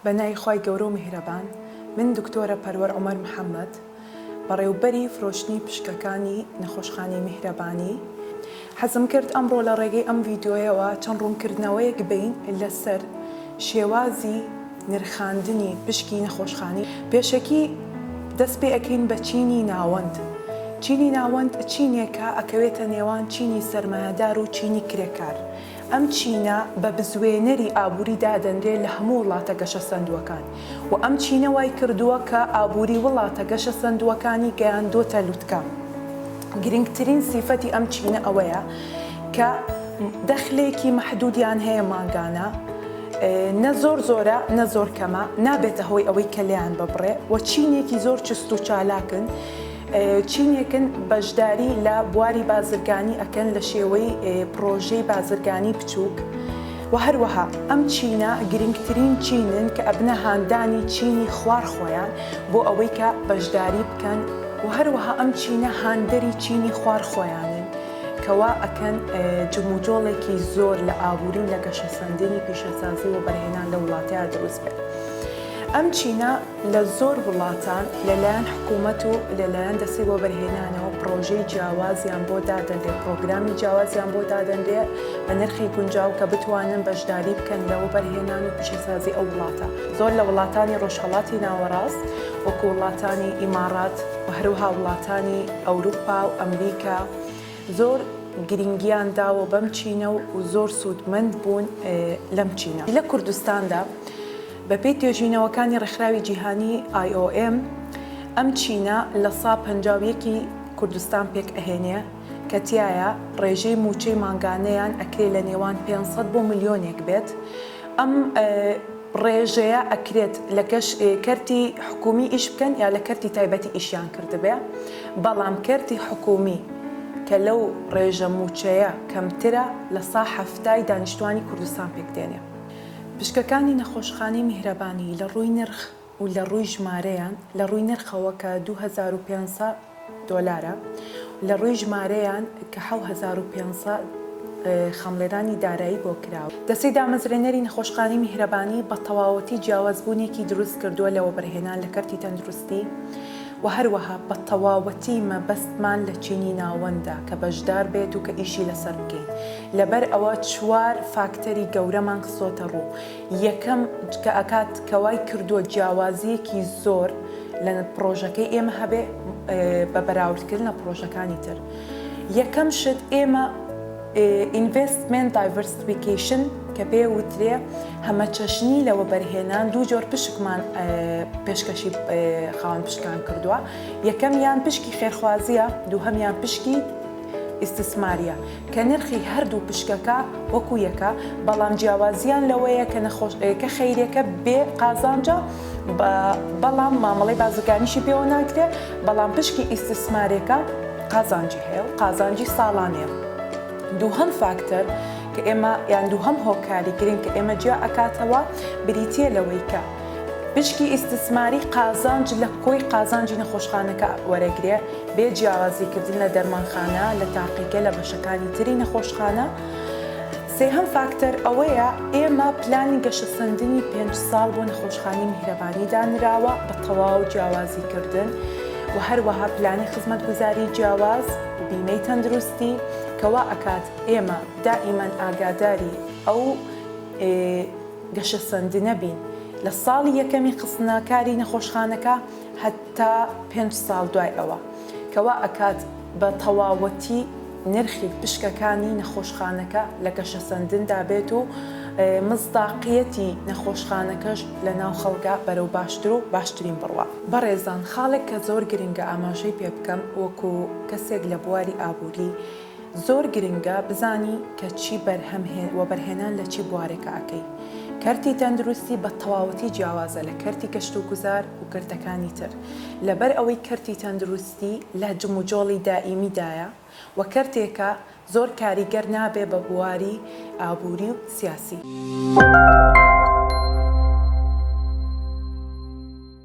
بەناوی خوای گەورەو میهرەبان من دکتۆرە پەروەر عومەر محمد بەڕێوبەری فرۆشتنی پشکەکانی نەخۆشخانەی میهرەبانی حەزم کرد ئەمڕۆ لە ڕێگەی ئەم ڤیدیۆیەوە چەند ڕونکردنەوەیەک بەین لەسەر شێوازی نرخاندنی پشکی نەخۆشخانی پێشەکی دەست پێ ئەکەین بە چینی ناوەند چینی ناوەند چینێکە ئەکەوێتە نێوان چینی سەرمایەدارو چینی کرێکار ئەم چینە بە بزوێنەری ئابووری دادەنرێ لە هەموو وڵاتە گەشەسەندووەکان و ئەم چینە وای کردووە کە ئابووری وڵاتە گەشەسەندووەکانی گەیاندۆتە لوتکە. گرینگترین سیفەتی ئەم چینە ئەوەیە کە دەخلێکی مەحدوودیان هەیە مانگانە، نە زۆر زۆرە نە زۆر کەمە، نابێتە هۆی ئەوەی کەلێیان ببڕێ و چینێکی زۆر چست و چالاکن، چینێکن بەشداری لە بواری بازرگانی ئەکەن لە شێوەی پڕۆژەی بازرگانی بچووک و هەروەها ئەم چینە گرنگترین چینن کە ئەبنە هاندانی چینی خوار خۆیان بۆ ئەوەی کە بەشداری بکەن و هەروەها ئەم چینە هاندەری چینی خوار خۆیانن کەوا ئەکەن جموجۆڵێکی زۆر لە ئابووری و لە گەشەسەندنی پیشەسازی و بەرهێنان لە وڵاتەیە دروست بێت ئەم چینە لە زۆر وڵاتان لەلایەن حکوومەت و لەلایەن دەستەی وەبەرهێنانەوە پڕۆژەی جیاوازیان بۆ دادەنرێ پڕۆگرامی جیاوازیان بۆ دادەنرێ بە نرخی گونجاو کە بتوانن بەشداری بکەن لە وەبەرهێنان و پیشەسازی ئەو وڵاتە زۆر لە وڵاتانی ڕۆژهەڵاتی ناوەڕاست وەکو وڵاتانی ئیماڕات و هەروها وڵاتانی ئەوروپا و ئەمریکا زۆر گرنگیان داوە بەم چینە و زۆر سوودمەند بوون لەم چینە لە کوردستاندا. بەپێی توێژینەوەکانی ڕێکخراوی جیهانی IOM ئەم چینە لە سا پەنجا و یەک ی کوردستان پێک ئەهێنێ کە تیایا ڕێژەی مووچەی مانگانەیان ئەکرێ لە نێوان پێنج سەد بۆ ملیۆنێک بێت ئەم ڕێژەیە ئەکرێت لە کەرتی حکوومی ئیش بکەن یا لە کەرتی تایبەتی ئیشیان کردبێ بەڵام کەرتی حکوومی کە لەو ڕێژە مووچەیە کەمترە لە سا حەفتا ی دانیشتوانی کوردستان پێک دێنێ. پشکەکانی نەخۆشخانەی میهرەبانی لە ڕووی نرخ و لە ڕووی ژمارەیان، لە ڕووی نرخەوە کە دوو هەزار و پێنج سەد دۆلارە و لە ڕووی ژمارەیان کە حەو هەزار و پێنج سەد خەمڵێنانی دارایی بۆ کراوە. دەستەی دامەزرێنەری نەخۆشخانەی میهرەبانی بە تەواوەتی جیاوازبوونێکی دروست کردووە لە وەبەرهێنان لە کەرتی تەندروستی، و هەروەها بە تەواوەتی مەبەستمان لە چینی ناوەندە کە بەشدار بێت و کە ئیشی لەسەر بکەین، لەبەر ئەوە چوار فاکتەری گەورەمان خستۆتە ڕوو، یەکەم کە ئەکات کە وای کردووە جیاوازییەکی زۆر لە پڕۆژەکەی ئێمە هەبێ بە بەراوردکردن لە پڕۆژەکانی تر یەکەم شت ئێمە، ئینڤێستمێنت دایڤەرسفیکەیشن کە پێێ وترێ هەمەچەشنی لە وەبەرهێنان دوو جۆر پشکمان پێشکەشی خاوەن پشکان کردووە یەکەم یان پشکی خێرخوازیە دووهەمیان پشکی ئیسسماریە کە نرخی هەردوو پشکەکە وەکو یەکە بەڵام جیاوازیان لەوەیە کە نەخۆش کە خەیرەکە بێ قازانجا بەڵام مامەڵی بازرگانیشی پێوە ناکرێت بەڵام پشکی ئیسسمارێکە قازانجی هەیە و قازانجی ساڵانەیە. دووهەم فاکتەر کە ئێمە یان دووهەم هۆکاری گرنگ کە ئێمە جیا ئەکاتەوە بریتیە لەوەی کە پشکی ئیستسماری قازانج لە کۆی قازانجی نەخۆشخانەکە وەرەگرێ بێ جیاوازی کردن لە دەرمانخانە لە تاقیگە لە بەشەکانی تری نەخۆشخانە. سێهەم فاکتەر ئەوەیە ئێمە پلانی گەشەسەندنی پێنج ساڵ بۆ نەخۆشخانەی میهرەبانی دانراوە بە تەواو جیاوازی کردن و هەروەها پلانی خزمەتگوزاری جیاواز و بیمەی تەندروستی کە وا ئەکات ئێمە دائیمەن ئاگاداری ئەو گەشەسەندنە بین لە ساڵی یەکەمی خستنە کاری نەخۆشخانەکە هەتا پێنج ساڵ دوای ئەوە. کە وا ئەکات بە تەواوەتی نرخی پشکەکانی نەخۆشخانەکە لە گەشەسەندندا بێت و مصداقیەتی نەخۆشخانەکەش لە ناو خەڵکا بەرەو باشتر و باشترین بڕوا. بەڕێزان خاڵێک کە زۆر گرنگە ئاماژەی پێ بکەم وەکو کەسێک لە بواری ئابووری، زۆر گرنگە بزانی کە چی بەرهەم هێ وەبەرهێنان لە چی بوارێکا ئەکەی کەرتی تەندروستی بە تەواوەتی جیاوازە لە کەرتی کەشت و گوزار و کەرتەکانی تر لەبەر ئەوەی کەرتی تەندروستی لە جموجۆڵی دائیمی دایە و کەرتێکە زۆر کاریگەر نابێ بە بواری ئابوری و سیاسی.